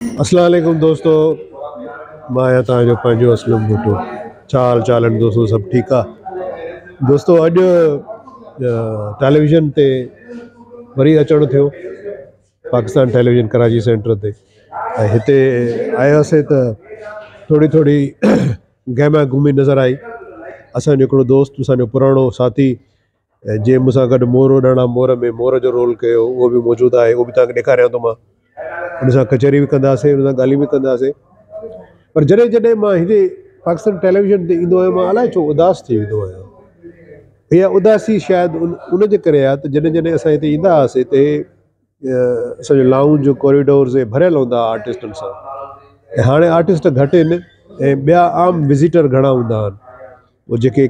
اسلام عليڪم دوستو مان آهيان توهان جو پنهنجو اسلم ڀٽو ڇا حال چال آهن دوستو سڀ ٺيڪ آ دوستو اڄ ٽيليويزن تي وري اچڻ ٿيو پاڪستان ٽيليويزن ڪراچي سينٽر تي ۽ هتي آياسي ته ٿوري ٿوري گهمي گهمي نظر آئي اسانجو هڪڙو دوست اسانجو پراڻو ساٿي ۽ جنهن مون سان گڏ مور اڏاڻا مور ۾ مور جو رول ڪيو اهو به موجود آهي اهو به توهان کي ڏيکاريان ٿو مان ان سان ڪچهري به ڪنداسين ان سان ڳالهيون به ڪنداسين پر جڏهن جڏهن مان هندي پاڪستان ٽيليويزن تي ڏيندو آهيان مان الاء ڇو اداس ٿي ويندو آهيان اها اداسي شايد ان ان جي ڪري آهي ته جڏهن جڏهن اسان هتي ايندا هئاسين ته اسان جو لائونج ڪوريڊورز اهي ڀريل هوندا هئا آرٽسٽن سان ۽ هاڻي آرٽسٽ گهٽ آهن ۽ ٻيا عام وزيٽر گهڻا هوندا آهن جيڪي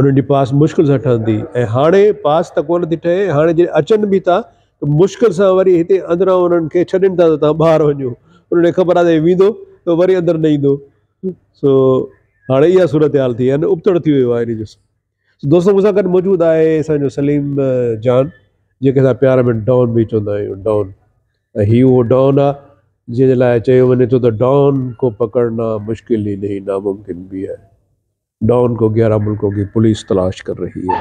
انهن جي پاس مشڪل سان ٺهندي ۽ هاڻي پاس ته ڪونه ٿي ٺهي، هاڻي جي اچن به ٿا ته مشڪل سان وري هتي اندران انهن کي ڇڏين ٿا ته توهان ٻاهر وڃو، انهن کي خبر آهي ته هي ويندو ته وري اندر نه ايندو سو هاڻي اها صورتحال ٿي يعني ابتڙ ٿي ويو آهي انهن جو سو دوستو مون سان گڏ موجود آهي اسان جو سليم جان جنهن کي اسان پيار ۾ ڊان به چوندا آهيون ڊان ۽ هي اهو ڊان آهي جنهن جي لاء چيو وڃي ٿو ته ڊان ڪو پڪڙنا مشڪل ئي نهين ناممڪن به آهي. ڊان ڪو گيارهن ملڪون ڪي پوليس تلاش ڪر رهي هي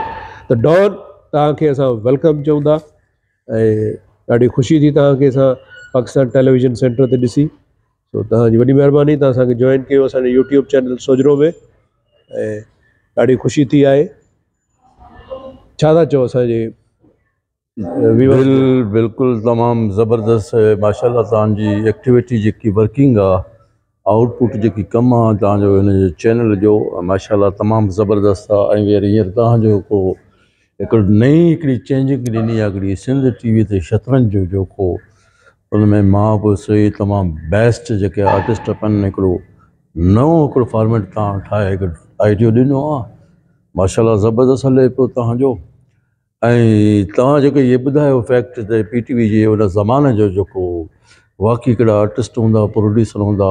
ته ڊان توهان کي اسان ويلڪم چئون ٿا ۽ ڏاڍي خوشي ٿي توهان کي اسان پاڪستان ٽيليويزن سينٽر تي ڏسي سو توهان جي وڏي مهرباني توهان اسان کي جوائن ڪيو اسانجي يوٽيوب چينل سوجهرو ۾ ۽ ڏاڍي خوشي ٿي آهي ڇا ٿا چئو اسانجي بلڪل تمام زبردست ماشاءالله تان جي ايڪٽيوٽي جيڪي ورڪنگ آ آئوٽ پٽ جيڪي ڪم آ تان جو هن جي چينل جو ماشاءالله تمام زبردست آ ۽ وري هينئر تان جو ڪو هڪڙي نئين هڪڙي چينجنگ ڏني آ هڪڙي سنڌ ٽي وي تي شطرنج جو جوکو ان ۾ ماء پوء سوئي تمام بيسٽ جيڪي آرٽسٽ پن هڪڙو نئون هڪڙو فارميٽ تان ٺاهي هڪڙو آئيڊيو ڏنو آ ماشاءالله زبردست هلي پيو تان جو ۽ توهان جيڪو اهي ٻڌايو فيڪٽ ته پي ٽي وي جي ان زماني جو جيڪو واقعي ڪهڙا آرٽسٽ هوندا پروڊيوسر هوندا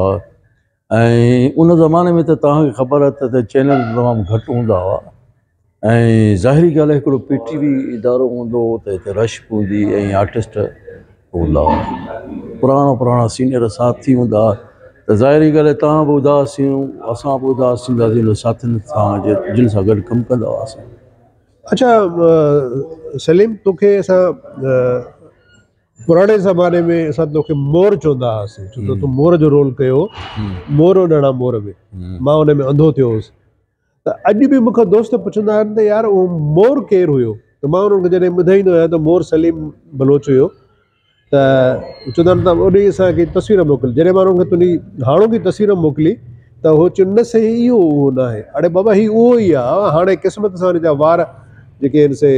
۽ ان زماني ۾ ته توهان کي خبر آهي ته چينل تمام گهٽ هوندا هئا ۽ ظاهري ڳالهه آهي هڪڙو پي ٽي وي ادارو هوندو هو ته هتي رش به هوندي ۽ آرٽسٽ هوندا هئا پراڻا پراڻا سينئر ساٿي هوندا هئا ته ظاهري ڳالهه آهي توهان به اداس ٿيون اسان به اداس ٿينداسين ان ساٿين سان جن سان گڏ ڪم ڪندا هئاسين اڇا سليم توکي اسان پراڻي زماني ۾ اسان توکي مور چوندا هئاسين ڇو ته تو مور جو رول ڪيو مور هو نڙا مور ۾ مان ان ۾ انڌو ٿيو هوس ته اڄ به مون کان دوست پڇندا آهن ته يار هو مور ڪير هيو ته مان انهن کي جڏهن ٻڌائيندو آهيان ته مور سليم بلوچ هيو ته چوندا آهن ته انهي اسان کي تصوير موڪل جڏهن مان انهن کي تنهنجي هاڻوڪي تصوير موڪلي ته هو چيو نه سائين اهو اهو ناهي اڙي بابا هي اهو ئي آهي هاڻي قسمت سان ان جا وار جيڪي آهن سي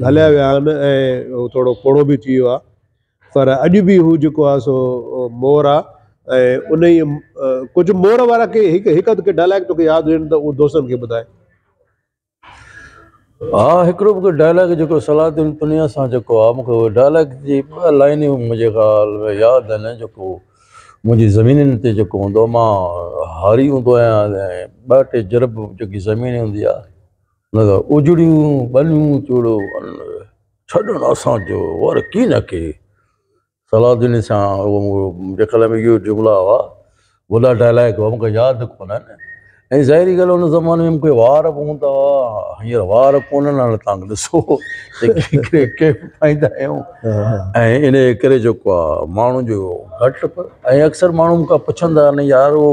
هليا ويا آهن ۽ هو ٿورو پوڙهو به ٿي ويو آهي پر اڄ به هو جيڪو آهي سو مور آهي ۽ انهي ڪجهه مور وارا ڪي هڪ هڪ اڌ ڪي ڊائلاگ توکي ياد هجن ته اهو دوستن کي ٻڌاء. ها هڪڙو مونکي ڊائلاگ جيڪو صلاح الدين پنيا سان جيڪو آهي مونکي اهو ڊائلاگ جي ٻه لائنيون منهنجي خيال ۾ ياد آهن جيڪو منهنجي زمينين تي جيڪو هوندو مان هاري هوندو آهيان ۽ ٻه ٽي جرب جيڪي زمين هوندي آهي نه ته اجڙيون ٻنيون چوڙو ڇڏڻ اسان جو ور ڪين ڪي صلاح الدين سان منهنجي خيال ۾ اهي جملا هئا، وڏا ڊائلاگ هئا، مون کي ياد ڪونه آهن ۽ ظاهري ڳالهه ان زماني ۾ مونکي وار به هوندا هئا، هينئر وار ڪونهن هاڻي توهان ڏسو ڪيپ پائيندا آهيون ۽ انهي ڪري جيڪو آهي ماڻهن جو گهٽ ۽ اڪثر ماڻهو مون کان پڇندا آهن يار اهو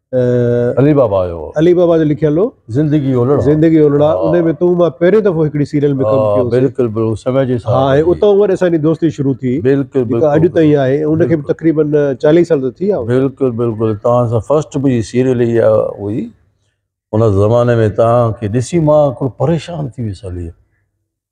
علي بابا جو علي بابا جو لکيل هو زندگي اولڙا زندگي اولڙا ان ۾ تو مان پهرين دفعو هڪڙي سيريل ۾ ڪم ڪيو بلڪل بلڪل سمي جي سان ها اتو ور اساني دوستي شروع ٿي بلڪل بلڪل اڄ تائين آهي ان کي تقريبن 40 سال ٿي ويا بلڪل بلڪل تا سا فرسٽ مجي سيريل هي هئي ان زماني ۾ تا کي ڏسي مان ڪو پريشان ٿي ويس علي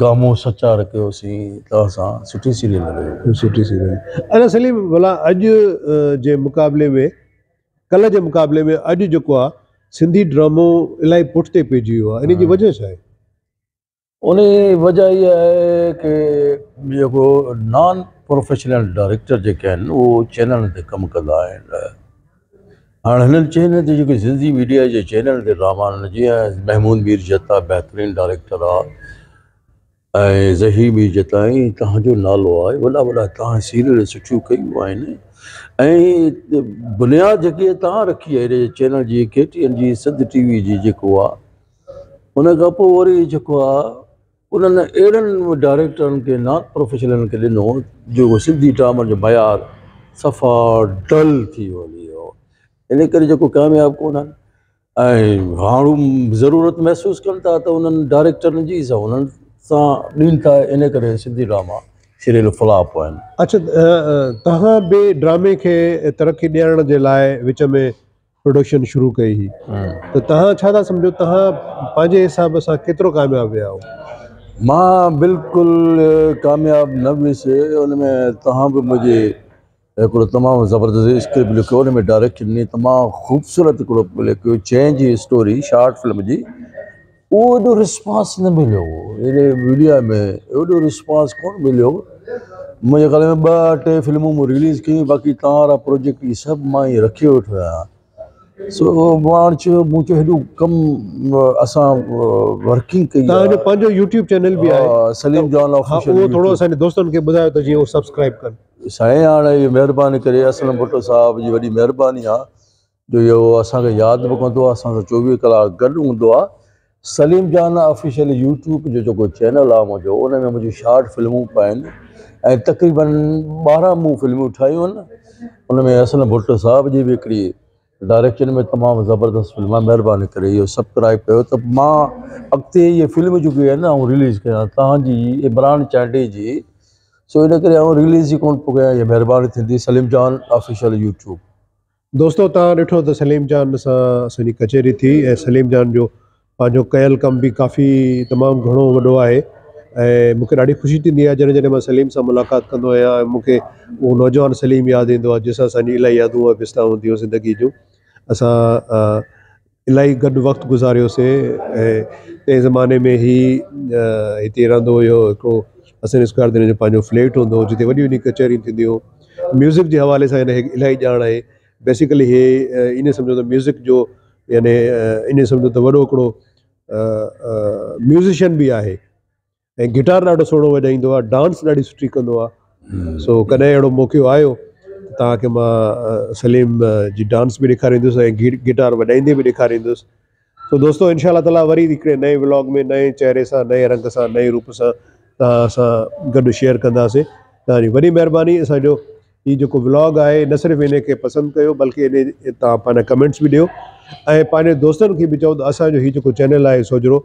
گامون سچار ڪيو سين توهان سان سٺي سيريل رهيو. سٺي سيريل ادا سليم ڀلا اڄ جي مقابلي ۾ ڪلهه جي مقابلي ۾ اڄ جيڪو آ سنڌي ڊرامو الاهي پٺتي پئجي ويو آ انهي جي وجهه ڇا آهي؟ انهي جي وجهه اها آهي ڪي جيڪو نان پروفيشنل ڊائريڪٽر جيڪي آهن اهو چينلن تي ڪم ڪندا آهن هاڻ هنن چينل تي جيڪي سنڌي ميڊيا جي چينل تي ڊراما هنن جيئن محمود مير جتا بهترين ڊائريڪٽر آ ۽ ظهير مير جتا ۽ تهان جو نالو آ وڏا وڏا تهان سيريل سٺيون ڪيون آهن ۽ بنياد جيڪي تهان رکي آهي هن چينل جي ڪي ٽي ان جي سنڌ ٽي وي جي جيڪو آ ان کان پوء وري جيڪو آ انهن اهڙن ڊائريڪٽرن کي نان پروفيشنلن کي ڏنو جو سنڌي ڊرامن جو معيار صفا ڊل ٿي ويو ان ڪري جيڪو ڪامياب ڪونهن ۽ هاڻ ضرورت محسوس ڪن ٿا ته انهن ڊائريڪٽرن جي سا انهن سان ڏين ٿا ان ڪري سنڌي ڊراما سيريل فلاپ آهن. اڇا توهان به ڊرامي کي ترقي ڏيارڻ جي لاء وچ ۾ پروڊڪشن شروع ڪئي هئي ته توهان ڇا ٿا سمجهو توهان پنهنجي حساب سان ڪيترو ڪامياب ويا هئو؟ مان بلڪل ڪامياب نه ويس ان ۾ توهان به منهنجي هڪڙو تمام زبردست اسڪرپٽ لکيو ان ۾ ڊائريڪشن ڏني تمام خوبصورت هڪڙو لکيو چينج اسٽوري شارٽ فلم جي اهو ايڏو رسپانس نه مليو اهڙي ميڊيا ۾ اهڙو رسپانس ڪونه مليو منهنجي خيال ۾ ٻه ٽي فلمون مون رليز ڪيون باقي تان وارا پروجيڪٽ اهي سڀ مان اهي رکي ويٺو آهيان سو پاڻ چيو مون چيو هيڏو ڪم اسان ورڪنگ ڪئي تان جو پنهنجو يوٽيوب چينل به آهي سليم جان آفيشل اهو ٿورو اسان جي دوستن کي ٻڌايو ته جي اهو سبسڪرائب ڪن سائين هاڻي مهرباني ڪري اسلم ڀٽو صاحب جي وڏي مهرباني آهي جو اهو اسان کي ياد به ڪندو آهي اسان سان چوويهه ڪلاڪ گڏ هوندو آهي سليم جان آفيشل يوٽيوب جو جيڪو چينل آهي منهنجو ان ۾ منهنجون شارٽ فلمون پيا آهن ۽ تقريبن ٻارهن مون فلمون ٺاهيون آهن ان ۾ حسن ڀٽ صاحب جي بي هڪڙي ڊائريڪشن ۾ تمام زبردست فلم آهي مهرباني ڪري اهو سبڪرائب ڪيو ته مان اڳتي اهي فلم جيڪي آهن آئون رليز ڪيان تهانجي عمران چانڊئي جي سو ان ڪري آئون رليز ئي ڪون ٿو ڪيان اهي مهرباني ٿيندي سليم جان آفيشل يوٽيوب دوستو توهان ڏٺو ته سليم جان سان اسان جي ڪچهري ٿي ۽ سليم جان جو پنهنجو ڪيل ڪم به ڪافي تمام گهڻو وڏو آهي ۽ مونکي ڏاڍي خوشي ٿيندي آهي جڏهن جڏهن مان سليم سان ملاقات ڪندو آهيان ۽ مونکي اهو نوجوان سليم ياد ايندو آهي جنهن سان اسان جي الاهي يادون ۽ بستائون هونديون زندگي جون اسان الاهي گڏ وقت گذاريو سي تنهن زماني ۾ هي هتي رهندو هيو هڪڙو حسن اسڪوائر تي هن جو پنهنجو فليٽ هوندو هو جتي وڏيون وڏيون ڪچهريون ٿينديون هيون ميوزڪ جي حوالي سان هن کي الاهي ڄاڻ آهي بيسڪلي هي ان سمجهو ته ميوزڪ جو يعني ان سمجهو ته وڏو هڪڙو ميوزيشن به آهي ۽ گٽار ڏاڍو سهڻو وڄائيندو آهي ڊانس ڏاڍي سٺي ڪندو آهي سو ڪڏهن اهڙو موقعو آيو تهانکي مان سليم جي ڊانس به ڏيکاريندس ۽ گي گٽار وڄائيندي به ڏيکاريندس سو دوستو انشاء الله تعالٰي وري هڪڙي نئين ولاگ ۾ نئين چهري سان نئين رنگ سان نئين روپ سان تهان سان گڏ شيئر ڪنداسي تهانجي وڏي مهرباني اسانجو هي جيڪو ولاگ آهي نه صرف ان کي پسند ڪيو بلڪه ان تهان پنهنجا ڪمينٽس به ڏيو ۽ پنهنجي دوستن کي به چئو ته اسانجو هي جيڪو چينل آهي سوجهرو